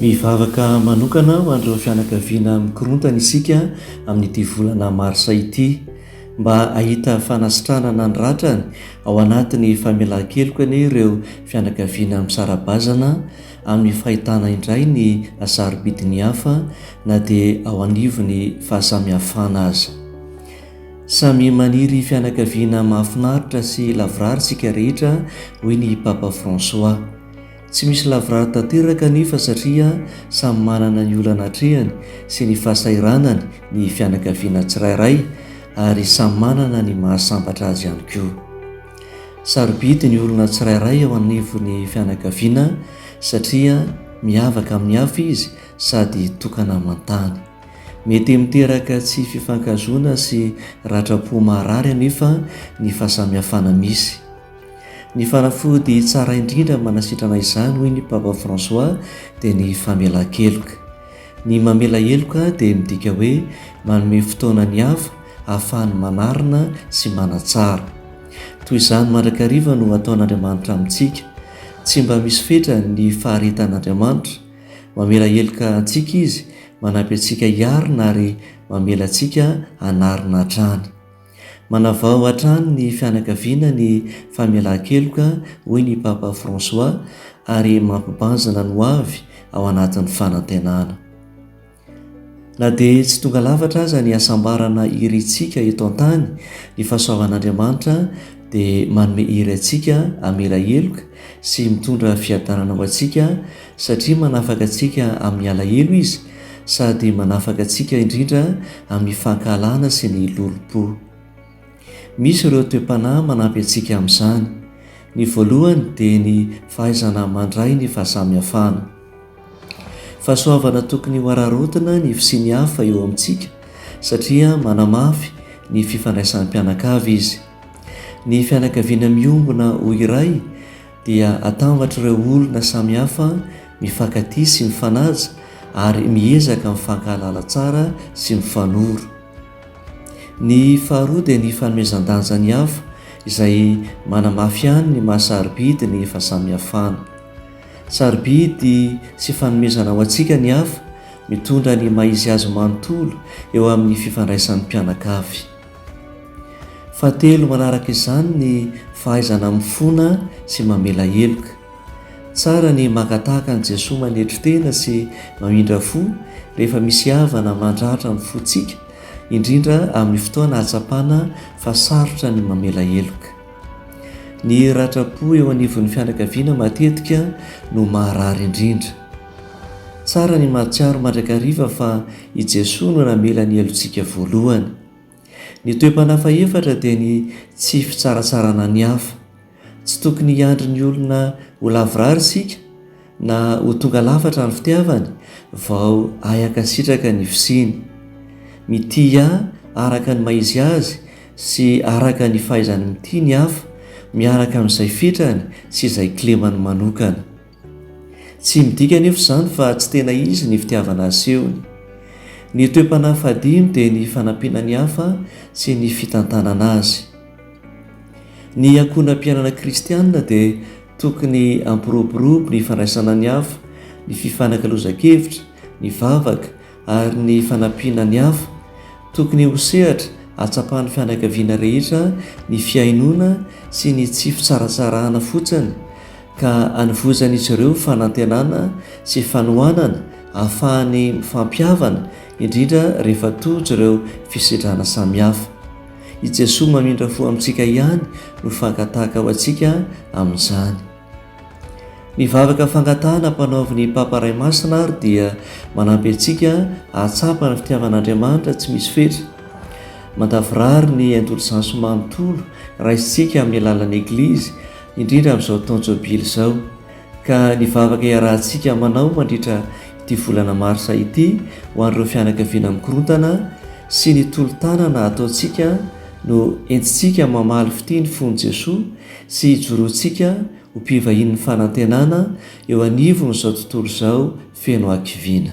Mivavaka manokana ho an'ireo fianakaviana mikorontana isika amin'ity volana marsa ity mba hahita fanasitranana ny ratrany ao anatin'ny famelan-keloka anie ireo fianakaviana misara-bazana amin'ny fahitana indray ny sarobidin'ny hafa na dia ao anivon'ny fahasamihafana aza. Samy maniry fianakaviana mahafinaritra sy lavorary isika rehetra, hoy ny Papa François. Tsy misy lavorary tanteraka anefa satria samy manana ny olana atrehany sy ny fahasahiranany ny fianakaviana tsirairay ary samy manana ny mahasambatra azy ihany koa. Sarobidy ny olona tsirairay eo anivon'ny fianakaviana satria miavaka amin'ny hafa izy sady tokana aman-tany. Mety miteraka tsy fifankahazoana sy ratram-po maharary anefa ny fahasamihafana misy. Ny fanafody tsara indrindra manasitrana izany, hoy ny Papa François, dia ny famelan-keloka. Ny mamela heloka dia midika hoe manome fotoana ny hafa hahafahany manarina sy manatsara. Toy izany mandrakariva no ataon'Andriamanitra amintsika. Tsy mba misy fetra ny faharetan'Andriamanitra. Mamela heloka antsika izy, manampy antsika hiarina ary mamela antsika hanarina hatrany. Manavao hatrany ny fianakaviana ny famelan-keloka, hoy ny Papa François, ary mampibanjina ny hoavy ao anatin'ny fanantenana. Na dia tsy tonga lafatra aza ny hasambarana irintsika eto an-tany, ny fahasoavan'Andriamanitra dia manome hery antsika hamela heloka sy mitondra fiadanana ho antsika, Satria manafaka antsika amin'ny alahelo Izy, sady manafaka antsika indrindra amin'ny fankahalana sy ny lolompo. Misy ireo toe-panahy manampy antsika amin'izany. Ny voalohany dia ny fahaizana mandray ny fahasamihafana. Fahasoavana tokony hohararaotina ny fisian'ny hafa eo amintsika, satria manamafy ny fifandraisan'ny mpianakavy izy. Ny fianakaviana miombona ho iray, dia atambatr'ireo olona samihafa mifankatia sy mifanaja ary miezaka mifankahalala tsara sy mifanoro. Ny faharoa dia ny fanomezan-danja ny hafa izay manamafy ihany ny maha sarobidy ny fahasamihafana. Sarobidy sy fanomezana ho antsika ny hafa mitondra ny maha izy azy manontolo eo amin'ny fifandraisan'ny mpianakavy. Fahatelo manaraka izany ny fahaizana mifona sy mamela heloka. Tsara ny maka tahaka an'i Jesoa manetry tena sy mamindra fo rehefa misy havana mandratra ny fontsika, indrindra amin'ny fotoana ahatsapana fa sarotra ny mamela heloka. Ny ratra-po eo anivon'ny fianakaviana matetika no maharary indrindra. Tsara ny mahatsiaro mandrakariva fa i Jesoa no namela ny helotsika voalohany. Ny toe-panahy fahefatra dia ny tsy fitsaratsarana ny hafa. Tsy tokony hiandry ny olona ho lavorary isika na ho tonga lafatra ny fitiavany vao hay hankasitraka ny fisiany. Mitia araka ny maha-izy azy sy araka ny fahaizany mitia ny hafa, miaraka amin'izay fetrany sy izay kilemany manokana. Tsy midika anefa izany fa tsy tena izy ny fitiavana asehony. Ny toe-panahy fahadimy dia ny fanampiana ny hafa sy ny fitantanana azy. Ny ankohonam-piainana kristianina dia tokony hampiroborobo ny fandraisana ny hafa, ny fifanakalozan-kevitra, ny vavaka, ary ny fanampiana ny hafa. Tokony ho sehatra ahatsapan'ny fianakaviana rehetra ny fihainoana sy ny tsy fitsaratsarahana fotsiny, ka anovozan'izy ireo fanantenana sy fanohanana ahafahany mifampihavana, indrindra rehefa tojo ireo fisidrana samihafa. I Jesoa mamindra fo amintsika ihany no fakan-tahaka ho antsika amin'izany. Ny vavaka fangatahana ampanaovin'ny Papa Ray Masina àry dia manampy antsika hahatsapa ny fitiavan'Andriamanitra tsy misy fetra. Mandavorary ny indolzansy manontolo raisintsika amin'ny alalan'ny Eglizy, indrindra amin'izao taona Jobily izao. Ka ny vavaka iarahantsika manao mandritra ity volana marsa ity ho an'ireo fianakaviana mikorontana sy ny tolo-tanana ataontsika no entintsika mamaly fitia ny fon'i Jesoa, Tsy hijoroantsika ho mpivahinin'ny fanantenana eo anivon'izao tontolo izao feno hakiviana.